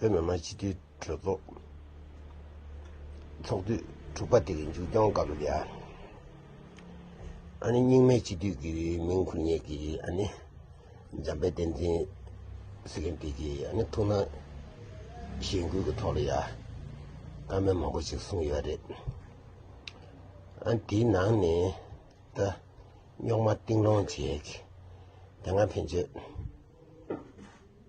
བོད་མི་མང་སྤྱི་འཐུས་གྲོས་ཚོགས་ཚོགས་དུས་དྲུག་པ་དེ་གི་མཇུག་སྐྱོང་སྐབས་ལ། ཨ་ནེ་རྙིང་མའི་སྤྱི་འཐུས་ཀྱི་མིང་འཁུར་ཉེས་ཀྱིས་ཨ་ནེ་འཇམ་དཔལ་བསྟན་འཛིན་སི་ཀན་ཏི་ཀྱིས་ཨ་ནེ་ཐུགས་སྣང་གཞེན་སྐུལ་གྱི་ཐོག་ལ་ཡ་སྐར་མའི་མང་པོ་ཞིག་གསུངས་ཡོད་རེད། དེའི་ནང་ནས་ད་རྙོག་མ་གཏིང་སློང་བྱས། དེ་སྔ་ཕན་ཆོད།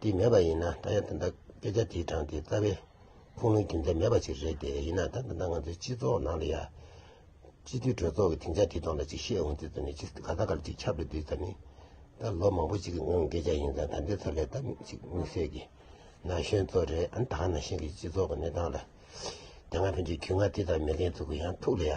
འདི་མེད་པ་ཡིན་ན་ད་ཡང་ད་ལྟ་སྐད་ཆ་དེའི་གྲངས་དེ་རྩ་བའི་ཁུངས་ལུང་རྒྱུ་མཚན་མེད་པ་ཞིག་རེད་དེ་ཡིན་ན་ད་ད་ལྟ་ང་ཚོའི་སྤྱི་ཚོགས་ནང་ལ་ཡང། སྤྱི་འཐུས་གྲོས་ཚོགས་ཀྱི་དེང་ཆ་དེ་ཐོག་ལ་ཅིག་བཤད་འོང་དུས་ཙམ་ནས་ཅིག་ག་ད་གར་ཅིག་ཁྱབ་རེ་དུས་ཙམ་ནས། ད་ལོ་མང་པོ་ཞིག་གི་སྔོན་སྐད་ཆ་ཡིན་ཙང་ད་འདི་ཚོ་ལས་ད་མིག་ཅིག་མིག་སེར་གྱི་ན་གཞོན་ཚོ་རེད་ཨང་དག་ན་གཞོན་གྱི་སྤྱི་ཚོགས་ཀྱི་གནས་སྟངས་ལ། དེ་སྔ་ཕན་ཆད་གུས་ངག་དེ་ཙམ་མི་ལེན་ཚུགས་ཀྱི་ཡང་ཐུགས་ལ་ཡ།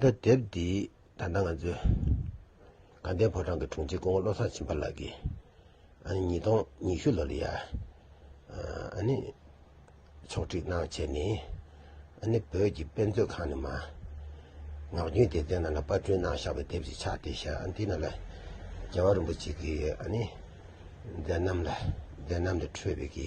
འདི་དེབ་འདི་ད་ལྟ་ང་ཚོའི་དགའ་ལྡན་ཕོ་བྲང་གི་དྲུང་ཆེ་སྐུ་ངོ་བློ་བཟང་བྱམས་པ་ལགས་ཀྱིས་ཨ་ནི་ཉིས་སྟོང་ཉི་ཤུ་ལོ་ལ་ཡ་ཨ་ནི་ཕྱོགས་སྒྲིག་གནང་བྱས་ནས་ཨ་ནི་བོད་ཀྱི་དཔེ་མཛོད་ཁང་ནས་མ་ངག་རྒྱུན་སྡེ་ཚན་ནང་ལ་དཔར་སྐྲུན་གནང་བཞག་པའི་དེབ་ཅིག་ཆགས་བསྡད་ཞག་འདི་ནང་ལ་རྒྱལ་བ་རིན་པོ་ཆེ་གི་ཨ་ནི་མཛད་རྣམ་ལ་མཛད་རྣམ་ལས་འཕྲོས་པའི་གི་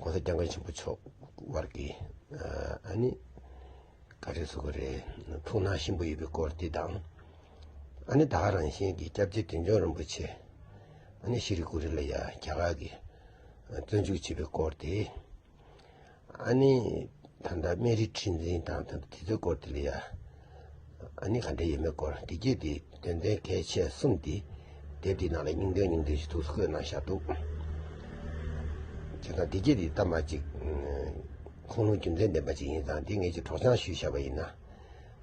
གོང་ས་སྐྱབས་མགོན་ཆེན་པོ་མཆོག་དབར་གྱི་ཨ་ནི་ག་རེ་ཟེར་དགོས་རེད། ཐུགས་སྣང་གཤིན་པོ་ཡོད་པའི་སྐོར་དེ་དང། ཨ་ནི་བདག་རང་བཞིན་གྱི་སྐྱབས་རྗེ་དོན་འབྱུང་རིན་པོ་ཆེ་ཨ་ནི་ཤི་རི་ཀུ་རི་ལ་ཡ་རྒྱ་གར་གྱི་བཙོན་འཇུག་བྱས་པའི་སྐོར་དེ། ཨ་ནི་ད་ལྟ་སྨན་རིའི་ཁྲི་འཛིན་དང་དེ་ཚོའི་སྐོར་དེ་ལས་ཨ་ནི་ག་འདྲ་ཡོད་མེད་སྐོར་བདེ་སྐྱིད་དེ་དོན་ཚན་གལ་ཆེ་གསུམ་དེ་དེབ་དེའི་ནང་ལ་སྙིང་དོན་སྙིང་དོན་ཞིག་ཐུགས་སུ་བཀོད་གནང་བཞག་འདུག་བྱས་ཙང་བདེ་སྐྱིད་དེ་གཏམ་དཔར་ཅིག་ཁུངས་ལུང་རྒྱུ་མཚན་ལྡན་པ་ཅིག་ཡིན་ཙང་དེ་ངེད་ཀྱིས་གྲོགས་བྱང་ཞུས་བཞག་པ་ཡིན་ན།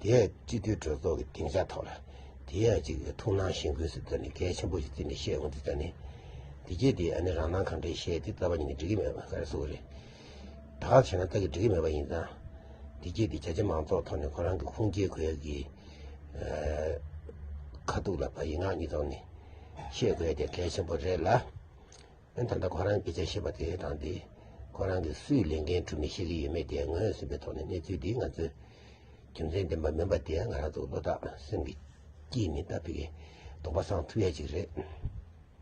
དེའི་སྤྱི་འཐུས་གྲོས་ཚོགས་ཀྱི་སྡིངས་ཆ་ཐོག་ལ་དེའི་ཡང་གཅིག་གི་ཐུགས་སྣང་ཞེན་དགོས་ཟེར་ད་ནི་གལ་ཆེན་པོ་ཞིག་བརྩིས་ནས་བཤད་འོང་དུས་ད་ནི་འདི་སྐད་དེ་ཨ་ནི་རང་སྣང་གང་དྲན་བཤད་དེ་རྩ་བ་ཉིད་ནས་འགྲིག་གི་མེད་པ་ག་རེ་ཟུག་རེད། ད་ག་བྱས་ན་ལྟ་གི་འགྲིག་གི་མེད་པ་ཡིན་ཙང། འདི་སྐད་དེ་རྒྱ་ཆེ་མང་ཚོགས་ཐོག་ནས་ཁོ་རང་གི་ཁུངས་སྐྱེལ་དགོས་ཡ་གི། ཁ་ཐུག་ལ་བ་ཡི་ངག་གཉིས་ཐོག་ནས་བཤད་དགོས་ཡ་དེ་གལ་ཆེན་པོ་རེད་ལ། ད་ལྟ་ཁོ་རང་སྐད་ཆ་བཤད་པ་དེ་དང་དེ་ཁོ་རང་གིས་སུས་ལས་འགན་འཁྲུག་མིན་ཤེས་ཀྱི་ཡོད་མེད་དེ་ངོས་ཟིན་པའི་ཐོག་ནས་གནས་ཚུལ་འདི་ང་ཚོས་རྒྱུ་མཚན་ལྡན་པ་མིན་པ་དེ་ང་རང་ཚོ་བློ་ཐག་སེང་གེ་སྐྱིད་ནི་ལྟ་ཕི་གའི་དོགས་པ་སངས་ཐུབ་ཡ་གཅིག་རེད།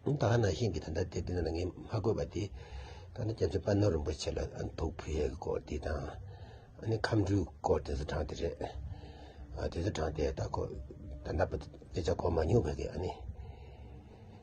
ད་ནང་བཞིན་གྱི་ད་ལྟ་དེ་དེ་ན་ལ་ངས་མ་བཀོད་པ་དེ་ད་ནང་རྒྱ་མཚོའི་དཔའ་ནོར་རིན་པོ་ཆེ་ལ་དོགས་ཕི་གའི་སྐོར་དེ་དང་ཁམས་འཕྲུལ་སྐོར་དེ་ཚོ་དྲངས་དེ་རེད། དེ་ཚོ་དྲངས་དེ་ད་ཁོ་ད་ལྟ་སྐད་ཆ་གོ་མ་མྱོང་བས་ཨ་ནི།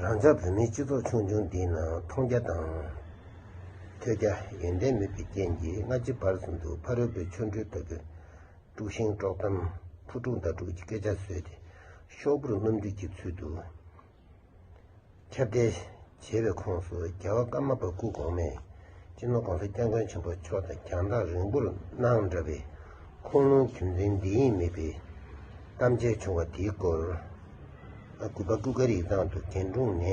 རང་ཅག་བོད་མིའི་སྤྱི་ཚོགས་ཆུང་ཆུང་འདིའི་ནང་མཐོང་རྒྱ་དང་ཐོས་རྒྱ་ཡོན་ཏན་མེད་པའི་རྐྱེན་གྱིས་སྔ་ཕྱི་བར་གསུམ་དུ་ཕ་རོལ་པོའི་ཆོ་འཕྲུལ་ལྟ་བུའི་དཀྲུག་ཤིང་དཀྲོག་གཏམ་ཕུ་དཀྲུག་མདའ་དཀྲུག་གི་སྐད་ཆ་བཟོས་ཏེ་ཤོག་བུར་སྣུམ་འདུས་ཀྱི་ཚུལ་དུ། ཁྱབ་གདལ་བྱེད་པའི་ཁོངས་སུ་རྒྱལ་བ་ཀརྨ་པ་སྐུ་གོང་མས་སྤྱི་ནོར ྋགོང་ས ྋསྐྱབས་མགོན་ཆེན་པོ་མཆོག་དང་རྒྱང་ཐག་རིང་པོར་གནང་འདྲ་བའི་ཁུངས་ལུང་རྒྱུ་མཚན་འདི་ཡིན་མིན་པའི་གཏམ་བཤད་བྱུང་བ་དེའི་སྐོར། དགུ་པ་སྐུ་སྒར་ཡིག་ཚང་དུ་རྒན་དྲུང་ནས་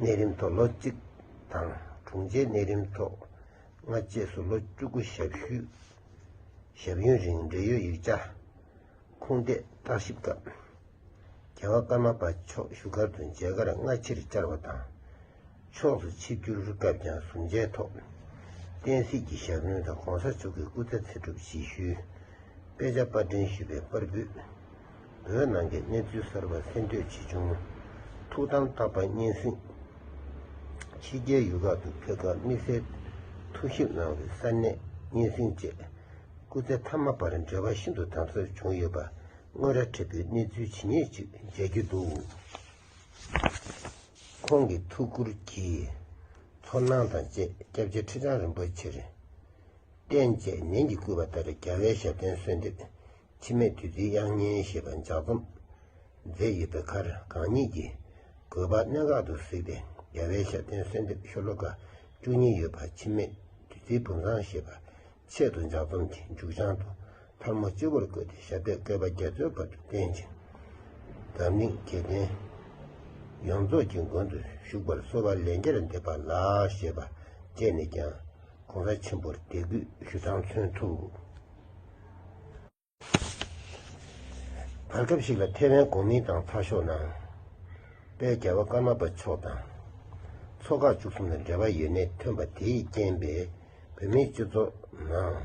གནས་རིམ་ཐོག་ལོ་གཅིག་དང་དྲུང་ཆེ་གནས་རིམ་ཐོག་ལྔ་བཅས་སུ་ལོ་བཅུ་དགུ་ཞབས་ཞུ་ཞབས་ཡུན་རིང་འབྲེལ་ཡོད་ཡིག་ཆ། ཁུངས་བསྟད་བརྟག་ཞིབ་སྐབས། རྒྱལ་བ་ཀརྨ་པ་མཆོག་བཞུགས་སྒར་དུ་མཇལ་ཁར་སྔ་ཕྱིར་བཅར་བ་དང། ཕྱོགས་སུ་ཆིབས་བསྒྱུར་སྐབས་ཀྱང་ཟུར་མཇལ་ཐོག་བསྟན་སྲིད་ཀྱི་ཞབས་བརྙན་དང ྋགོང་ས་མཆོག་གི་སྐུ་ཚེ་ཚེ་སྒྲུབ་སྤྱི་ཞུའི་དཔེ་ཆ་དཔར་འདྲེན་ཞུས་པའི་པར་འབུད། བོད་ནང་གི་གནས་ཚུལ་གསར་པ་གསན་བསྟོད་ཆེ་ཆུང། ཐུགས་དམ་བརྟག་པ་སྙན་གསེང། ཕྱི་རྒྱལ་ཡུལ་ཁག་ཏུ་ཕེབས་སྐབས་དམིགས་བསལ་ཐུགས་ཞིབ་གནང་བའི་གསར་གནས་སྙན་གསེང་བཅས། སྐུ་ཚེ་མཐའ་མ་བར་འབྲེལ་བ་ཤིན་ཏུ་དམ་ཟབ་བྱུང་ཡོད་པ་དངོས་ར་འཕྲད་པའི་གནས་ཚུལ་ཇི་སྙེད་ཅིག་མཇལ་རྒྱུ་འདུག་ཁོང་གི་ཐུགས་ཁུར་གྱིས་ཚོར་སྣང་དང་བཅས་སྐྱབས་རྗེ་ཁྲི་བྱང་རིན་པོ་ཆེར་རྟེན་བཅས་ནན་གྱིས་བསྐུལ་བ་ལྟར་རྒྱལ་བའི་ཞབས་བརྟན་གསོལ་འདེབས་འཆི་མེད་བདུད་རྩིའི་དབྱངས་སྙན་ཞེས་པ་ལྗགས་རྩོམ་མཛད་ཡོད་པའི་ཁར་གང་ཉིད་ཀྱི་གོས་པ་གནད་འགག་ཏུ་གཟིགས་ཏེ་རྒྱལ་བའི་ཞབས་བརྟན་གསོལ་འདེབས་ཤོ་ལོ་ཀ་བཅུ་གཉིས་ཡོད་པ་འཆི་མེད་བདུད་རྩིའི་བུམ་བཟང་ཞེས་པ། ཆེད་དུ་འཇག་རྩོམ་གྱི་མཇུག་བྱང་དུ་ཐར་མོ་སྤྱི་བོར་བཀོད་དེ་ཞབས་པད་བསྐལ་པ་བརྒྱད་རྩོད་བར་དུ་བསྟེན་ཅིང། བདག་མིག་དགེ་ལྡན་ཡོངས་རྫོགས་ཀྱི་མགོན་དུ་བཞུགས་པར་གསོལ་བ་ལན་བརྒྱར་འདེབས་པ་ལགས་ཞེས་པ་བཅས་ནས་ཀྱང ྋགོང་ས་ཆེན་པོར་དད་གུས་ཞུ་སྟངས་མཚོན་ཐུབ། བར་སྐབས་ཤིག་ལ་ཐེ་ཝན་གོ་མིན་ཏང་ཚགས་ཤོག་ནང་པའི་རྒྱལ་བ་ཀརྨ་པ་མཆོག་དང་ཚོགས་ཁག་བཅུ་གསུམ་ལ་འབྲེལ་བ་ཡོད་མེད་ཐོན་པ་དེས་རྐྱེན་པས་བོད་མིའི་སྤྱི་ཚོགས་ནང་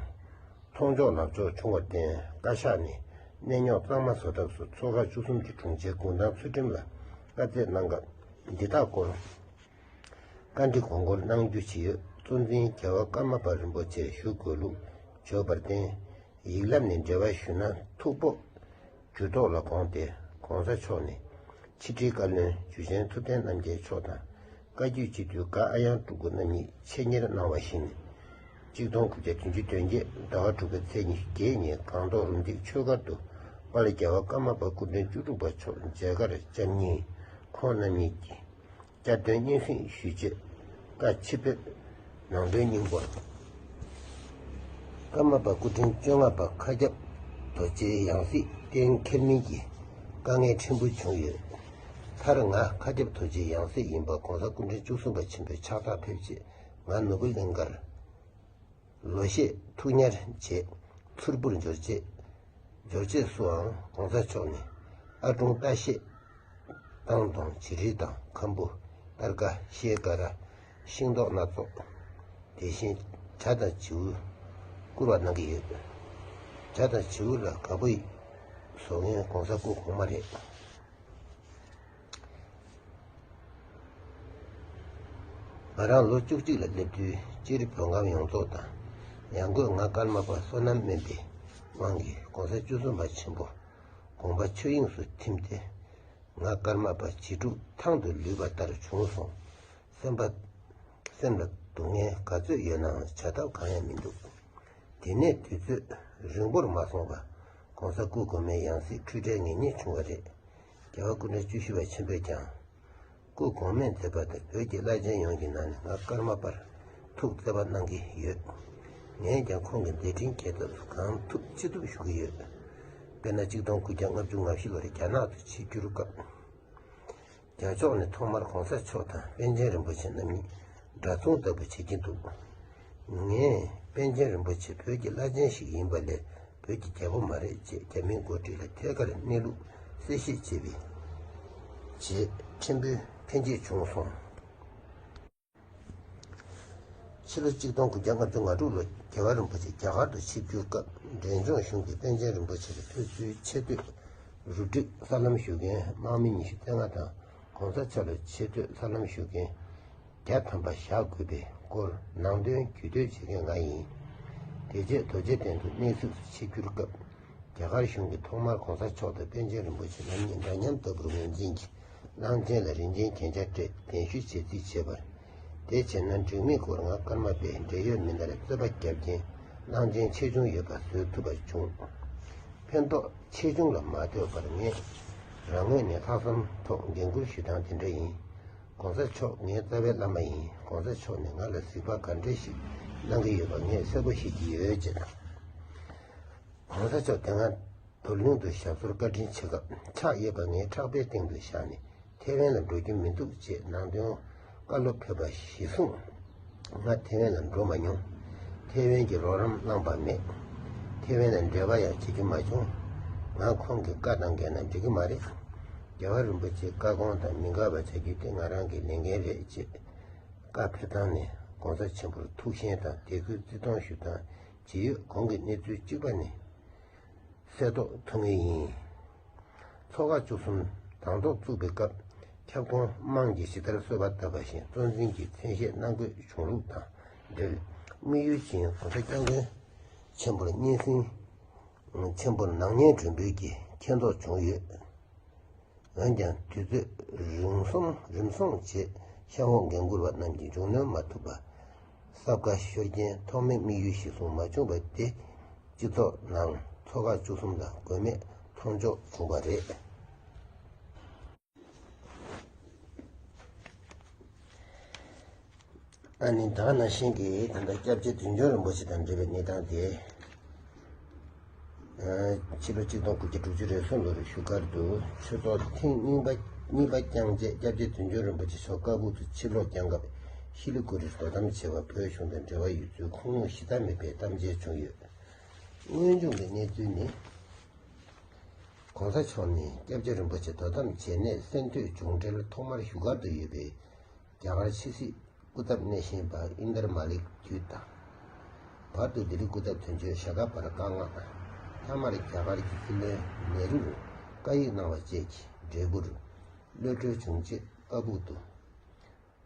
མཐོང་ཕྱོགས་ལག་ཕྱོགས་ཆུང་བར་བརྟེན་བཀའ་ཤག་ནས་གནས་རྙོག་གཙང་མ་བཟོ་ཐབས་སུ་ཚོགས་ཁག་བཅུ་གསུམ་གྱི་དྲུང་ཆེའི་དགུང་གྲངས་ཚུལ་ཁྲིམས་ལ་བཀའ་བརྩད་གནང་སྐབས་འདི་དག་སྐོར། བཀའ་འདྲི་དགོངས་སྐོར་གནང་རྒྱུ་ཇི་ཡོད་གཙོ་འཛིན་རྒྱལ་བ་ཀརྨ་པ་རིན་པོ་ཆེར་ཞུ་དགོས་ལུགས་བརྗོད་པར་བརྟེན། ཡིག་ལབ་ནས་འབྲེལ་བ་ཞུས་ན་ཐུགས་སྤོབས། འགྱུར་ལྡོག་ལ་དགོངས་ཏེ ྋགོང་ས་མཆོག་ནས་ཕྱི་དྲིལ་བཀའ་བློན་འཇུ་ཆེན་ཐུབ་བསྟན་རྣམ་རྒྱལ་མཆོག་དང་བཀའ་བརྒྱུད་སྤྱི་འཐུས ྋག་ཨ་དབྱངས་སྤྲུལ་སྐུ་རྣམ་གཉིས་ཆེད་གཉེར་གནང་བ་བཞིན། གཅིག་སྟོང་དགུ་བརྒྱ་བདུན་ཅུ་དོན་བརྒྱད་ཟླ་བ་དྲུག་པའི་ཚེས་ཉི་ཤུ་བརྒྱད་ཉིན་སྒང་ཏོག་རུ་འདེགས་ཆོས་སྒར་དུ་པཱ་ལི་རྒྱལ་བ་ཀརྨ་པ་སྐུ་མགྲོན་བཅུ་དྲུག་པ་མཆོག་མཇལ་ཁར་བཅར་ཉིན་ཁོང་རྣམ་གཉིས་ཀྱིས། བཅའ་སྡོད་སྙན་སེང་ཞུས་རྗེས་བཀའ་ཕྱི་ཕེབས། ནང་དོན་སྙིང་པོ། ཀརྨ་པ་སྐུ་ཕྲེང་བཅོ་ལྔ་པ་མཁའ་ཁྱབ་རྡོ་རྗེའི་ཡང་སྲིད་གཏན་འཁེལ་མིན་གྱི་དཀའ་ངལ་ཕྲན་བུ་བྱུང་ཡོད། མཐར་ང་མཁའ་ཁྱབ་རྡོ་རྗེའི་ཡང་སྲིད་ཡིན་པ་གོང་ས་སྐུ་ཕྲེང་བཅུ་གསུམ་པ་ཆེན་པོས་ཕྱག་རྟགས་ཕེབས་རྗེས་ང་ནུབ་བུ་གླིང་དཀར་ལོ་ཤས་ཐུགས་ཉར་རྗེས་མཚུར་ཕུར་འབྱོར་རྗེས་འབྱོར་རྗེས་སུའང་གོང་ས་མཆོག་ནས་ཨ་ཀྲུང་ཏཱ་ཤེས་ཏང་དང་བྱེ་རིལ་དང་ཁམ་བུ་སྟར་ཀ་ཤེལ་ཀ་ར་ཤིང་ཏོག་སྣ་ཚོགས་དེ་བཞིན་བྱ་དང་བྱིའུ་བསྐུར་བ་གནང་གི་ཡོད། བྱ་དང་བྱིའུ་ལ་དགའ་པོ་ཡིན། བཟོ་མཁན་གོང་ས་སྐུ་གོང་མ་རེད། ང་རང་ལོ་བཅུ་གཅིག་ལ་སླེབས་དུས་སྤྱིར་བོད་ཁམས་ཡོངས་རྫོགས་དང་ཡང་སྒོས་ང་ཀརྨ་པ་བསོད་ནམས་སྨན་པའི་དབང་གིས་གོང་ས་བཅུ་གསུམ་པ་ཆེན་པོ་དགོངས་པ་ཆོས་དབྱིངས་སུ་ཐིམ་སྟེ། ང་ཀརྨ་པ་བྱིས་སྒྲུང་ཐང་དུ་ལུས་པ་ལྟར་བྱུང་སོང། སེམས་པ། སེམས་ལ་སྡུག་བསྔལ་ག་ཚོད་ཡོད་ནའང་བྱ་ཐབས་གང་ཡང་མི་འདུག་དེ་ནས་དུས་ཚོད་རིང་པོར་མ་སོང་བར་གོང་ས་སྐུ་གོང་མའི་ཡང་སྲིད་འཁྲུལ་བྲལ་ངེས་རྙེད་བྱུང་བ་རེད། རྒྱལ་བ་ཀུན་གྲགས་བཅུ་བཞི་བ་ཆེན་པོས་ཀྱང། སྐུ་གོང་མས་མཛད་པ་དང་བོད་ཀྱི་བླ་ཆེན་ཡོངས་ཀྱི་ནང་ནས་ང་ཀརྨ་པར་ཐུགས་བརྩེ་བ་གནང་གི་ཡོད། ངས་ཀྱང་ཁོང་གི་མཛད་འཕྲིན་རྒྱས་ཐབས་སུ་གང་ཐུབ་ཅི་ཐུབ་ཞུ་གི་ཡོད། དཔེར་ན་གཅིག་སྟོང་དགུ་བརྒྱ་ལྔ་བཅུ་ང་བཞི་ལོར་རྒྱ་ནག་ཏུ་ཆིབས་བསྒྱུར་སྐབས། རྒྱ་ཕྱོགས་ནས་ཐོག་མར་གོང་ས་མཆོག་དང་པཎ་ཆེན་རིན་པོ་ཆེ་རྣམ་གཉིས། འདྲ་མཚུངས་ལྟ་བུ་བྱེད་ཀྱིན་འདུག། ངས་པཎ་ཆེན་རིན་པོ་ཆེ་བོད་ཀྱི་བླ་ཆེན་ཞིག་ཡིན་པ་ལས་བོད་ཀྱི་རྒྱལ་པོ་མ་རེད་ཅེས་རྒྱ་མིའི་འགོ་ཁྲིད་ལ་ཐད་ཀར་གནས་ལུགས་གསལ་བཤད་བྱས་པའི་རྗེས་ཕྲན་བུའི་ཕན་ཆད་བྱུང་སོང། ཕྱི་ལོ་གཅིག་སྟོང་དགུ་བརྒྱ་ལྔ་བཅུ་ང་དྲུག་ལོར་རྒྱལ་བ་རིན་པོ་ཆེ་རྒྱ་གར་དུ་ཆིབས་བསྒྱུར་སྐབས་འབྲས་ལྗོངས་གཞུང་གིས་པཎ་ཆེན་རིན་པོ་ཆེར་ཕེབས་བསུའི་ཆེ་བསྟོད་རུ་སྒྲིག་གསར་ལམ་ཞུ་མཁན་དམག་མི་ཉི་ཤུ་རྩེ་ལྔ་དང། ྋགོང་ས ྋསྐྱབས་པའི་ཆེས་མཐོའི་ལྷ་ལམ་ཞུགས་མཁན་བརྒྱ་ཐམ་པ་བཞག་དགོས་པའི་སྐོར་ནང་དོན་བརྒྱུད་སྟོན་བྱེད་མཁན་ང་ཡིན། དེ་རྗེས་རྡོ་རྗེ་གདན་དུ་གནས་གཟིགས་སུ་ཆིབས་བསྒྱུར་སྐབས་རྒྱ་གར་གཞུང་གིས་ཐོག་མར ྋགོང་ས་མཆོག་དང་པཎ་ཆེན་རིན་པོ་ཆེ་རྣམ་གཉིས་འདྲ་མཉམ་ལྟ་བུར་ངོས་འཛིན་གྱིས་གླང་ཆེན་ལ་རིན་ཆེན་གྱེན་ཆ་སྤྲད་དེ་གདན་ཞུ་བྱེད་རྩིས་བྱས་པར། དེ་བྱས་ན་འཇུག་མེད་སྐོར་ངག་སྐར་མ་པས་འབྲེལ་ཡོད་མི་སྣར་རྩོད་པ་བརྒྱབ་རྐྱེན་གླང་ཆེན་ཆེ་ཆུང་ཡོད་པ་བཟོས་ཐུབ་པ་བྱུང། ཕན་ཐོགས་ཆེ་ཆུང་ལ་མ་ལྟོས་པར་ངས་རང་ངོས་ནས་ལྷག་བསམ་ཐོག་འགན་ཁུར་ཞུས་སྟངས་དེ་འདྲ་ཡིན། གོང་ས་མཆོག་ངའི་རྩ་བའི་བླ་མ་ཡིན་གོང་ས་མཆོག་ནས་ང་ལ་གཟིགས་པ་ག་འདྲ་ཞིག་གནང་གི་ཡོད་པ་ངས་གསལ་པོ་ཤེས་ཀྱི་ཡོད་ཅེས་དང། གོང་ས་མཆོག་དེ་སྔ་དོ་གླིང་དུ་ཞབས་སོར་བཀའ་དྲིན་ཆེ་སྐབས་ཕྱག་གཡས་པ་ངའི་ཕྲག་པའི་སྟེང་དུ་བཞག་ནས་ཐེ་ཝན་ལ་འགྲོ་རྒྱུ་མི་འདུག་ཅེས་ནང་དོན་བཀའ་སློབ་ཕེབས་པ་གཞི་བཟུང་ང་ཐེ་ཝན་ལ་འགྲོ་མ་མྱོང། ཐེ་ཝན་གྱི་རོགས་རམ་བླངས་པ་མེད། ཐེ་ཝན་ལ་འབྲེལ་བ་ཡང་བྱེད་རྒྱུ་མ་བྱུང། ང་ཁོང་གི་བཀའ་ལྡང་མཁན་ན་འགྲོ་གི་མ་རེད། རྒྱལ་བ་རིན་པོ་ཆེའི་བཀའ་དགོངས་དང་མི་འགལ་བ་བྱ་རྒྱུ་དེ་ང་རང་གི་ལས་འགན་རེད་ཅེས་བཀའ་ཕེབས་སྟངས་ནས་དགོངས་ཚ་ཆེན་པོར་ཐུགས་ཞེན་དང་དད་གུས་བརྩི་མཐོང་ཞུ་སྟངས་ཇི་ཡོད་གོང་གི་གནས་ཚུལ་གཅིག་པ་ནི། གསལ་རྟོགས་ཐུབ་ངེས་ཡིན། ཚོགས་ཁག་བཅུ་གསུམ་དང་ཐོག་བཙུགས་པའི་སྐབས་ཁྱབ་ཁོངས་དམངས་ཀྱི་ཞི་བདར་གསོལ་བ་བཏབ་པ་བཞིན་གཙོ་འཛིན་གྱི་མཚན་ཤས་གནང་དགོས་བྱུང་ལུགས་དང་འབྲེལ་དམིགས་ཡུལ་བཞིན་གོང་ས་སྐྱབས་མགོན་ཆེན་པོར་སྙན་སེང་ཆེན་པོ་ནང་སྙན་སྒྲོན་འབུལ་གྱིས་མཁྱེན་རྟོགས་བྱུང་ཡོད། འོན་ཀྱང་དུས་ཚོད་རིམ་སོང་རྗེས་ཤ་བོ་འགན་འཁུར་བ་རྣམས་ཀྱིས་མཇུག་གནོན་མ་ཐུབ་པ་སྲབ་ཁ་ཤོར་རྐྱེན་ཐོག་མའི་དམིགས་ཡུལ་གཞིར་བཟུང་མ་བྱུང་པ་དེ་སྤྱི་ཚོགས་ནང་ཚོ་ཁག་བཅུ་གསུམ་ལ་དགོས་མེད་མཐོང་འཇོག་བྱུང་བ་རེད། ཨ་ནི་བདག་ནང་བཞིན་གྱི་ད་ལྟ་སྐྱབས་རྗེ་དོན་འབྱུང་རིན་པོ་ཆེ་དང་འབྲེལ་བའི་གནས་སྟངས་དེ། ཕྱི་ལོ་གཅིག་སྟོང་དགུ་བརྒྱ་དྲུག་ཅུ་རེ་སོ་ལོ་རེ་བཞུགས་སྒར་དུ་ཆོས་ཚོགས་ཐེངས་གཉིས་པ་བསྐྱངས་རྗེས་སྐྱབས་རྗེ་དོན་འབྱུང་རིན་པོ་ཆེ་མཆོག་རྐ་ཕུག་ཏུ་ཕྱིར་ལོག་བསྐྱངས་སྐབས་ཤི་ལི་གུ་རིར་དོ་དམ་བྱེད་པར་བོད་གཞུང་དང་འབྲེལ་བ་ཡོད་ཚུལ་ཁུངས་ལུང་ཞིབ་ཕྲ་མེད་པའི་གཏམ་འཆལ་བྱུང་ཡོད། དངོས་བྱུང་གི་གནས་ཚུལ་ནི། གོང་ས་མཆོག་ནས་སྐྱབས་རྗེ་རིན་པོ་ཆེ་དོ་དམ་བྱས་ནས་གསན་ཐོས་བྱུང་འཕྲལ་ཐོག་མར་བཞུགས་སྒར་དུ་ཡོད་པའི། རྒྱ་གར་ཕྱི་སྲིད་སྐུ་ཚབ་གནས་བཞེངས་པ་ཨིན་དར་མ་ལིག་བརྒྱུད་དང། བར་དུ་ལྡི་ལི་སྐུ་ཚབ་དོན་གཅོད་ཞྭ་སྒ་བར་བཀའ་མངགས། མཐའ་མར་རྒྱ་གར་གྱི་ཀི་ལོའི་ནེ་རུར་བཀའ་ཡིག་གནང་བ་བཅས་ཀྱི་འབྲས་བུར། གློད་གྲོལ་བྱུང་རྗེས་བཀའ་སྦུག་ཏུ།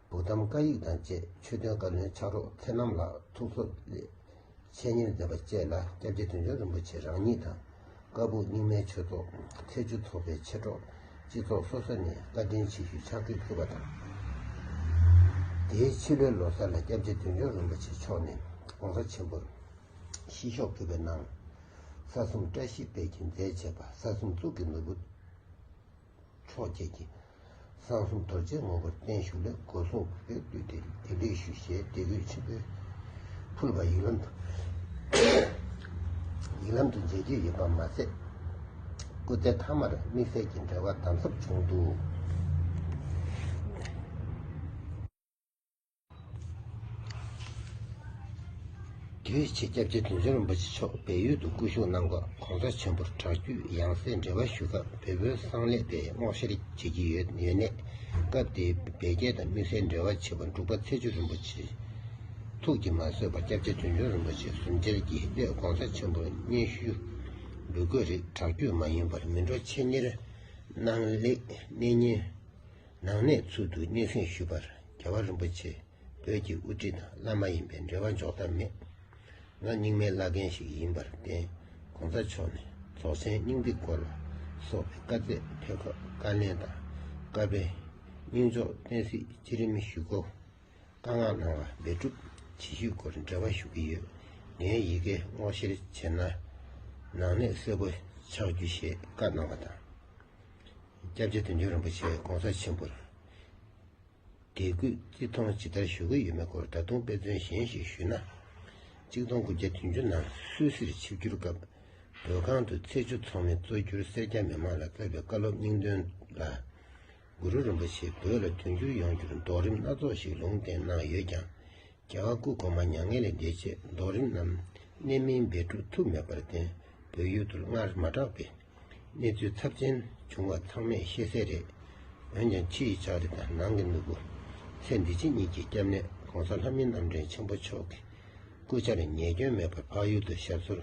བུ་དམ་བཀའ་ཡིག་དང་བཅས་ཆོས་དོན་བཀའ་བློན་ཕྱག་རོགས་མཚན་རྣམ་ལགས་ཐུགས་གསོ་ལས། འཆད་ཉན་མཛད་པ་བཅས་ལ་སྐྱབས་རྗེ་དོན་གྲུབ་རིན་པོ་ཆེ་རང་ཉིད་དང་ཀ་སྦུག་རྙིང་མའི་ཆོས་ཚོགས་ཐེ་བྱུས་ཚོགས་པའི་མཆེད་གྲོགས་སྤྱི་ཚོགས་སོ་སོ་ནས་བཀའ་དྲིན་ཆེ་ཞུའི་ཕྱག་ཁྲིད་ཕུལ་བ་དང། དེའི་ཕྱི་ལོའི་ལོ་སར་ལ་སྐྱབས་རྗེ་དོན་གྲུབ་རིན་པོ་ཆེ་མཆོག་ནས ྋགོང་ས་ཆེན་པོར་ཤིས་ཤོག་ཕུལ་བའི་ནང། ས་གསུམ་བཀྲ་ཤིས་དཔལ་གྱིས་མཛེས་བྱས་པ་ས་གསུམ་གཙུག་གི་ནོར་བུ། མཆོག་བཅས་ཀྱིས་གསང་གསུམ་རྡོ་རྗེའི་ངོ་བོར་བརྟན་བཞུགས་ལེགས་སྐུ་གསུང་གི་དཔལ་བསྡུས་ཏེ་དགེ་ལེགས་ཞུ་ཞེས་བདེ་གུས་ཆེན་པོས་ཕུལ་བ་ཡིག་ལམ་ཡིག་ལམ་དུ་མཇལ་རྒྱུ་ཡོད་པ་མ་ཟད། སྐུ་ཚེ་མཐའ་མར་དམིགས་བསལ་གྱི་འབྲེལ་བ་དམ་ཟབ་བྱུང་འདུག། དེའི་ཕྱི་སྐྱབས་རྗེ་བདུད་འཇོམས་རིན་པོ་ཆེ་མཆོག་བལ་ཡུལ་དུ་སྐུ་བཞུགས་གནང་སྐབས ྋགོང་ས་ཆེན་པོར་དྲག་བརྒྱུད་ཡང་སྲིད་འབྲེལ་བ་ཞུ་སྐབས་བལ་བོའི་གསང་ལས་པས་སྔོག་བཤེར་བྱེད་ཀྱི་ཡོད་ནས་སྐབས་དེའི་བལ་རྒྱལ་དང་དམིགས་བསལ་འབྲེལ་བ་བྱེད་པ་འབྲུག་པ་ཚེ་བརྒྱུད་རིན་པོ་ཆེས་ཐུགས་ཀྱིས་མ་བཟོད་པར་སྐྱབས་རྗེ་བདུད་འཇོམས་རིན་པོ་ཆེ་ཟུང་འབྲེལ་གྱིས་སླད ྋགོང་ས་ཆེན་པོར་སྙན་ཞུ་འབུལ་དགོས་རིགས་དྲག་བརྒྱུད་མ་ཡིན་པར་མི་འགྲོ་ཆེད་གཉེར་གནང་ལེགས་གནས་ཉིན། ནང་གནས་ཚུལ་དུ་སྙན་སེང་ཞུས་པར་རྒྱལ་བ་རིན་པོ་ཆེས་བོད་ཀྱི་དབུ་ཁྲིད་དང་བླ་མ་ཡིན་པའི་འབྲེལ་བ་འཇོག་ཐབས་མེད། ང་རྙིང་མའི་བླ་རྒན་ཞིག་ཡིན་པར་བརྟེན་གོང་ས་མཆོག་ནས་རྫོགས་ཆེན་སྙིང་ཏིག་སྐོར་ལ་སོགས་པའི་བཀའ་བརྩད་ཕེབས་སྐབས་བཀའ་ལན་དང་བཀའ་དཔེ། སྙིང་ཕྱོགས་བསྟན་སྲིད་སྤྱི་རིམ་བཞུགས་སྒོ། བཀའ་མངགས་གནང་བ་འབད་སྒྲུབ་བྱེད་ཤུལ་སྐོར་འབྲེལ་བ་ཞུ་གི་ཡོད། ངའི་ཡི་གེ་སྔོག་བཤེར་བྱས་ན་ནང་གནས་གསལ་པོ་ཆགས་རྒྱུ་ཞེས་བཀའ་གནང་བ་དང། སྐྱབས་རྗེ་དོན་གྲུབ་རིན་པོ་ཆེས ྋགོང་ས་ཆེན་པོར་དད་གུས་བརྩི་མཐོང་ཇི་ལྟར་ཞུ་གི་ཡོད་མེད་སྐོར་ད་དུང་དཔེ་མཚོན་གཞན་ཞིག་ཞུས་ན། གཅིག་སྟོང་དགུ་བརྒྱ་དོན་བཅུ་ནང་སུད་སིར་ཆིབས་བསྒྱུར་སྐབས་བོད་ཁང་དུ་ཚེས་བཅུ་ཚོགས་མི་གཙོ་གྱུར་སེར་སྐྱ་མི་མང་ལ་བསྩལ་པའི་བཀའ་སློབ་སྙིང་དོན་ལ། གུ་རུ་རིན་པོ་ཆེས་བོད་ལ་དོན་བསྒྱུར་ཡོང་རྒྱུར་རྡོག་རིམ་སྣ་ཚོགས་ཤིག་ལུང་བསྟན་གནང་ཡོད་ཀྱང། རྒྱལ་བ་སྐུ་གོང་མ་མྱ་ངན་ལས་འདས་རྗེས་རྡོ་རིང་རྣམས་གནད་སྨིན་སྦས་འཁྲུགས་ཐུབ་མེད་པར་བརྟེན་བོད་ཡུལ་དུ་སྔར་མ་གྲགས་པའི་གནས་ཚུལ་ཚབས་ཆེན་བྱུང་བ་ཚང་མས་ཤེས་གསལ་རེད། འོན་ཀྱང་ཕྱི་ཡི་ལྕགས་རི་དང་ནང་གི་སྣུབ་བུ། ཚེ་འདི་ཕྱི་གཉིས་ཀྱི་སྐྱབས་གནས ྋགོང་ས་ལྷ་མི་རྣམ་འདྲེན་ཆེན་པོ་མཆོག་གི་སྐུ་ཕྱྭར་ཉེས་སྐྱོན་མེད་པར་འཕགས་ཡུལ་དུ་ཞབས་སོར་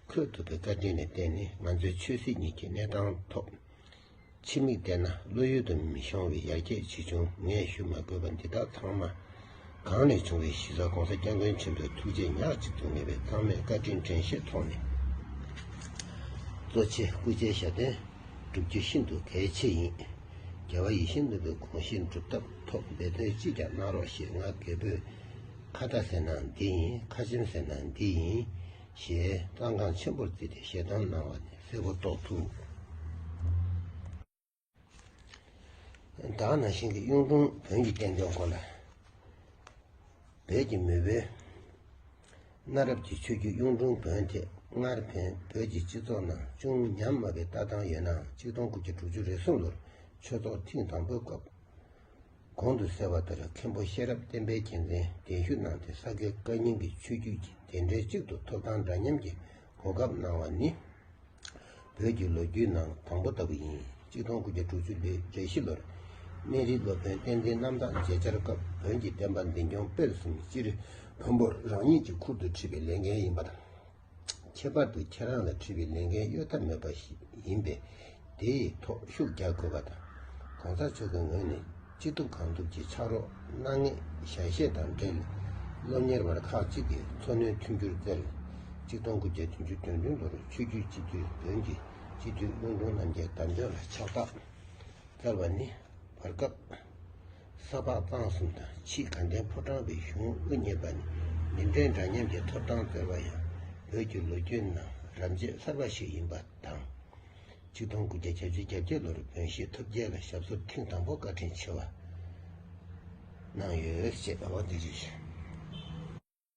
འཁོད་ཐུབ་པའི་བཀའ་དྲིན་ལས་བརྟེན་ནས་ང་ཚོའི་ཆོས་སྲིད་གཉིས་ཀྱི་གནས་སྟངས་ཐོག་ཕྱི་མིག་བལྟས་ན་བློ་ཡུལ་དུ་མི་ཤོང་བའི་ཡར་རྒྱས་ཆེ་ཆུང་ངས་ཞུ་མ་དགོས་པ་འདི་དག་ཚང་མ་གང་ནས་བྱུང་བའི་གཞི་རྩ ྋགོང་ས ྋསྐྱབས་མགོན་ཆེན་པོའི་ཐུགས་རྗེ་ཉག་གཅིག་ཏུ་ངེས་པའི་གཙང་སྨེ་བཀའ་དྲིན་དྲན་ཤེས་ཐོག་ནས་གཙོ་ཆེ་སྐུ་ཆེ་ཞབས་བརྟན་བསྒྲུབ་རྒྱུ་ཤིན་ཏུ་གལ་ཆེ་ཡིན། རྒྱལ་བ་ཡིད་བཞིན་ནོར་བུའི་གོང་བཞིན་སྒྲུབ་ཐབས་ཐོག་འབད་བརྩོན་ཅི་ཀྱང་གནང་རོགས་ཞེས་ང་རྒད་པོས་ཁ་བརྡ་ཟེར་ན་འདི་ཡིན་ཁ་ཆེམས་ཟེར་ན་འདི་ཡིན། ཞེས་རྩ་འགངས་ཆེན་པོར་བརྩིས་ཏེ་ཞལ་གདམས་གནང་བ་ནི་གསལ་པོ་རྟོགས་ཐུབ། བདག་ན་ཤིང་གི་གཡུང་དྲུང་བོན་གྱི་བསྟན་དོན་སྐོར་ལ་བོད་ཀྱི་མི་བོའི་གནའ་རབས་ཀྱི་ཆོས་བརྒྱུད་གཡུང་དྲུང་བོན་ཐད་སྔར་བོན་བོད་ཀྱི་སྤྱི་ཚོགས་ནང་ཅུང་ཉམས་དམའ་བའི་ལྟ་སྟངས་ཡོད་ནའང་གཅིག་སྟོང་དགུ་བརྒྱ་དྲུག་ཅུ་རེ་གསུམ་ལོར་ཆོས་ཚོགས་ཐེངས་དང་པོའི་སྐབས། གོང་དུ་གསལ་བ་ལྟར་མཁན་པོ་ཤེས་རབ་བསྟན་པའི་རྒྱལ་མཚན་གདན་ཞུ་གནང་སྟེ་ས་དགེ་བཀའ་རྙིང་གི་ཆོས་བརྒྱུད་ཀྱི་བདེན་འབྲེལ་གཅིག་ཏུ་ཐོབ་ཐང་འདྲ་མཉམ་གྱི་གོ་སྐབས་གནང་བ་ནི། བོད་ཀྱི་ལོ་རྒྱུས་ནང་དང་པོ་ལྟ་བུ་ཡིན། གཅིག་སྟོང་དགུ་བརྒྱ་དྲུག་ཅུ་ལོའི་རེ་བཞི་ལོར། སྨན་རིའི་སློབ་དཔོན་བསྟན་འཛིན་རྣམ་དག་མཇལ་བཅར་སྐབས་བོན་གྱི་བསྟན་པ་འཛིན་སྐྱོང་སྤེལ་གསུམ་སྤྱིར་བོན་པོར་རང་ཉིད་ཀྱིས་ཁུར་དུ་ཁྲིད་པའི་ལས་འགན་ཡིན་པ་དང། ཁྱད་པར་དུ་ཁྱེད་རང་ལ་འཁྲི་བའི་ལས་འགན་གཡོལ་ཐབས་མེད་པ་ཞིག་ཡིན་པས་དེ་ཡི་ཐོག་ཤུགས་རྒྱག་དགོས་པ་དང། གོང་ས་མཆོག་གི་ངོས་ནས་ཅི་ཐུབ་གང་ཐུབ་ཀྱིས་ཕྱག་རོགས་གནང་ངེས་ཞལ་བཞེས་དང་འབྲེལ་སློབ་གཉེར་བར་ཁག་གཅིག་གི་འཚོ་སྣོན་མཐུན་འགྱུར་རྩེ་ལེ་གཅིག་སྟོང་དགུ་བརྒྱ་བདུན་ཅུ་དོན་བདུན་ལོར་ཆོས་བརྒྱུད་སྤྱི་འཐུས་བོན་གྱི་སྤྱི་འཐུས་བློན་ཁོང་རྣམ་རྒྱལ་དམ་ཆོས་ལ་ཕྱག་རྟགས་སྩལ་བ་ནི་བར་སྐབས། ས་ཕག་གཙང་གསུམ་དང་ཕྱིའི་དགའ་ལྡན་ཕོ་བྲང་བའི་གཞུང་དབུ་བརྙེས་པ་ནི་མི་འབྲལ་འདྲ་མཉམ་གྱི་ཐོབ་ཐང་བསྩལ་བ་ཡང་བོད་ཀྱི་ལོ་རྒྱུས་ནང་རབས་འབྱེད་གསར་པ་ཞིག་ཡིན་པ་དང། གཅིག་སྟོང་དགུ་བརྒྱ་གྱ་བཅུ་གྱ་བརྒྱད་ལོར་བོན་གཞིས་ཐུབ་རྒྱལ་ལ་ཞབས་སོར་ཐེངས་དང་པོ་བཀའ་དྲིན་ཆེ་བ་གནང་ཡོད་ཅེས།